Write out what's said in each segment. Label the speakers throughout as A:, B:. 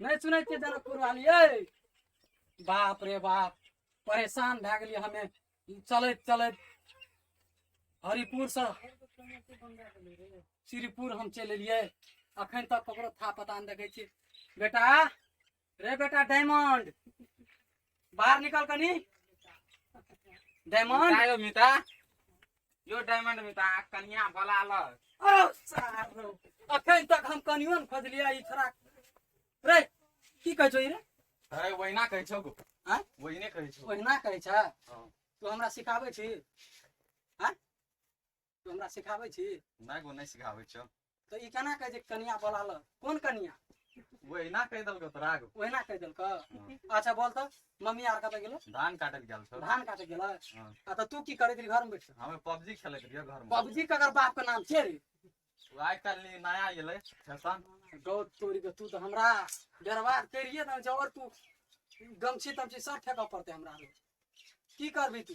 A: नहीं सुनै छियै जनकपुर वाली ए बाप रे बाप परेशान भए गेलियै हमे चलैत चलैत हरिपुर से श्रीपुर हम चलि एलियै अखन तक ककरो था पता नहि देखै छियै बेटा रे बेटा डायमंड बाहर निकल कनी डायमंड आयो मिता यो डायमंड मिता कनिया भला ल अरे सारो अखन तक हम कनियो न खोजलिया ई छोरा रे की कहै छौ ई रे अरे वहिना कहै छौ गो आँय? वहिने कहै छौ ओहिना कहै छ हँ। तू हमरा सिखाबै छी आँय? तू हमरा सिखाबै छी नहि गो नहि सिखाबै छौ तऽ ई केना कहै छै कनिया बोला लऽ कोन कनिया वो एना कहि देलको तोरा गो ओहिना कहि देलकौ अच्छा बोल तऽ मम्मी आर कतऽ गेलो धान काटे लए गेल छौ धान काटे गेलै हँ। आ तऽ तू की करैत रही घरमे बैठ हमे पबजी खेलैत रहियो घर में पबजी के अगर बाप के नाम छै रे वो आइ काल्हि नया एलै फैशन गौ तोरी के तू तऽ हमरा बर्बाद करिए दन जबर तू गमछी तमछी सब फेंकऽ पड़तै हमरा रे की करबी तू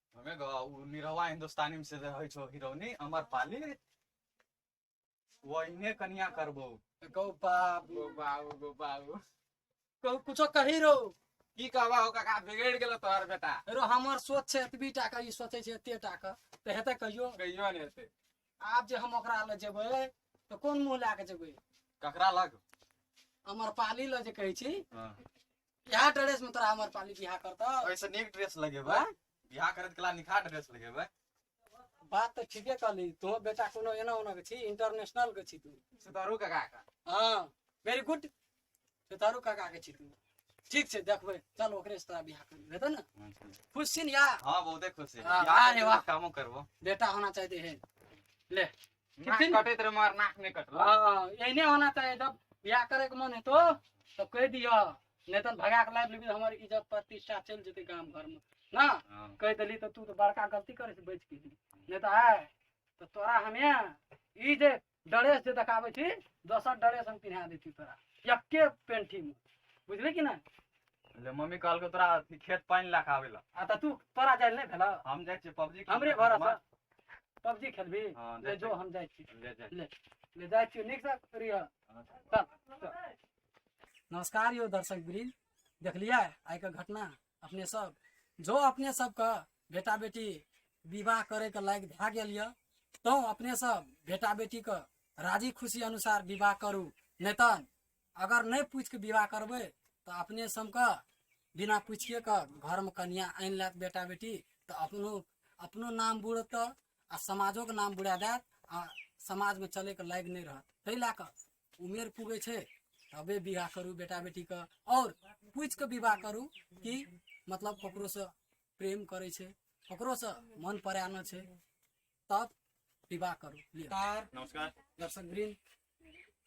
A: हमें गा उ निरवा हिंदुस्तानी में से जे होइ छो हिरोनी अमर पाली वहीने कनिया करबो गो बाबू गो बाबू गो बाबू कहू कुछो कही रो की कहबा हो काका बिगड़ गेलो तोहर बेटा रो हमर सोच छै एतबी टा के ई सोचै छै एते टा के तऽ हेतै कहियो कहियो ने हेतै आब जे हम ओकरा लग जेबै तऽ कोन मुँह लए कऽ जेबै ककरा लग अमर पाली लग जे कहै छी हाँ। बिहार ड्रेस में तोरा हमर पाली बिहार करता ऐसे नीक ड्रेस लगेबै हाँ? बियाह करत कला निखा ड्रेस लगेबै बात तो ठीके कहली तुहो बेटा कोनो एना ओना के छी इंटरनेशनल के छी तू सितारू काका का हाँ वेरी गुड तारू काका के छी तू ठीक छै देखबै चल ओकरे से तोरा बियाह कर हेतौ ने खुश छी ने या हाँ बहुते खुश है हाँ, बियाह अरे करबै वाह। तऽ कामो करबो बेटा होना चाहिए है ले नाक कितनी- कटैत रहे मगर नाक नहि कटल हाँ एहने होना चाहिए जब ब्याह करे के मन हेतो तो कह दिया नहीं तो भगा के लाइव लेबी तो हमारी इज्जत प्रतिष्ठा चल जेते गांव घर में ना हाँ। कह दिली तो तू तो बड़का गलती करे से बच गेली नहीं तो आय तो तोरा हमे ई जे ड्रेस जे देखाबे छी दोसर ड्रेस हम पिन्हा देती तोरा यक्के पेंटी में बुझली कि ना ले मम्मी कहलकै तोरा अथी खेत पानि लए कऽ आबै लए आ तो तू तोरा जाय नहीं भेला हम जाइ छियै पबजी हमरे भरोसा पबजी खेलबी हाँ, ले देखते। जो हम जाइ छी ले जाए ले ले जाइ छियो नीक से करिय हाँ। चल चल। नमस्कार यो दर्शक वृंद देखलिए आइ के घटना अपने सब जो अपने सब के बेटा बेटी विवाह करे के लायक भए गेल यऽ तो अपने सब बेटा बेटी के राजी खुशी अनुसार विवाह करू नहि तऽ अगर नहि पूछ के विवाह करबै तऽ अपने सबके बिना पूछिए के घर में कनिया आनि लेत बेटा बेटी तऽ अपनो अपनो नाम बुड़त आ समाजो के नाम बुड़ा देत आ समाज में चले के लायक नहि रहत ताहि लए कऽ उमेर पुगे छै तबे विवाह करू बेटा बेटी के और पूछ के विवाह करू कि मतलब ककरो से प्रेम करे छै ककरो से मन परायण छै तब विवाह करू लिअ। तार नमस्कार दर्शक वृंद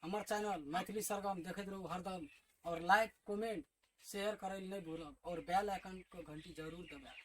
A: हमर चैनल मैथिली सरगम देखैत रहू हरदम और लाइक कमेंट शेयर करय लए नहि भूलब और बेल आइकन के घंटी जरूर दबाएब